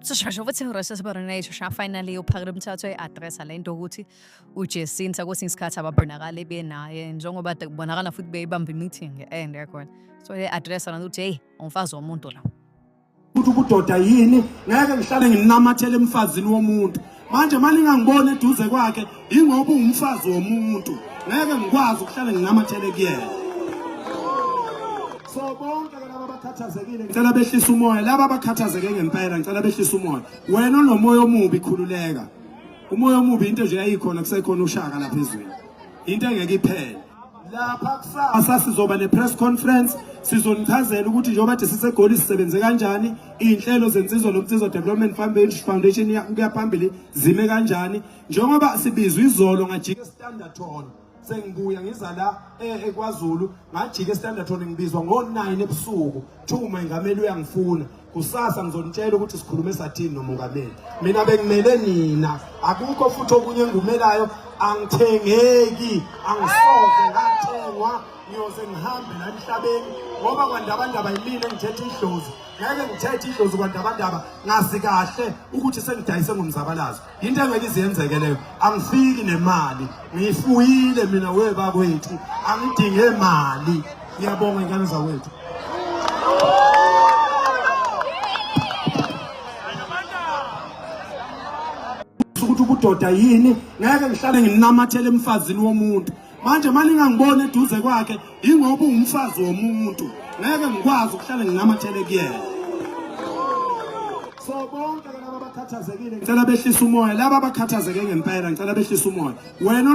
sisheshe futhi ngirese sibarination sha finally uphakela umthatho e-addressa le nto ukuthi ujesinta kwesinye isikhathi ababonakali benaye njengoba de kubonakala futhi beyibamba i-meeting e-end yakhona so le-addressa nanto ukuthi heyi umfazi womuntu la ukuthi ubudoda yini ngeke ngihlale nginamathele emfazini womuntu manje malingangibona eduze kwakhe ingoba ungumfazi womuntu ngeke ngikwazi ukuhlale nginamathele kuyena so bonke laba bakhathazekile ngicela behlisa umoya laba bakhathazeke ngempela ngicela behlisa umoya wena onomoya omubi khululeka umoya omubi into nje yayikhona kusekhona ushaka lapha ezweni into engeke iphele lapha kusasa sizoba ne-press conference sizonichazela ukuthi njengoba kade sisegoli sisebenze kanjani iy'nhlelo zensizwa nomnsizwa development foundation kuya phambili zime kanjani njengoba sibizwa izolo ngajika estandard hall sengibuya ngiza la eh, ekwazulu ngajika estandard hall ngibizwa ngo-9 ebusuku kuthiwa umengameli uyangifuna kusasa ngizonitshela ukuthi sikhulume sathini nomongameli mina bengimele nina akukho futhi okunye engumelayo angithengeki angisoze ngathengwa ngiyoze ngihambe la emhlabeni ngoba kwandabandaba yimina engithetha idlozi ngeke ngithethe idlozi kwandabandaba ngazi kahle ukuthi sengidayise ngomzabalazo into engeke iziyenzeke leyo angifiki nemali ngiyifuyile mina webakwethu angidinge mali ngiyabonga ingane zawethu ukuthi ubudoda yini ngeke ngihlale nginamathele emfazini womuntu manje uma ningangiboni eduze kwakhe yingoba ungumfazi womuntu ngeke ngikwazi ukuhlale nginamathele kuyena so bonke laba abakhathazekile ngicela behlisa umoya laba abakhathazeke ngempela ngicela behlisa umoya wena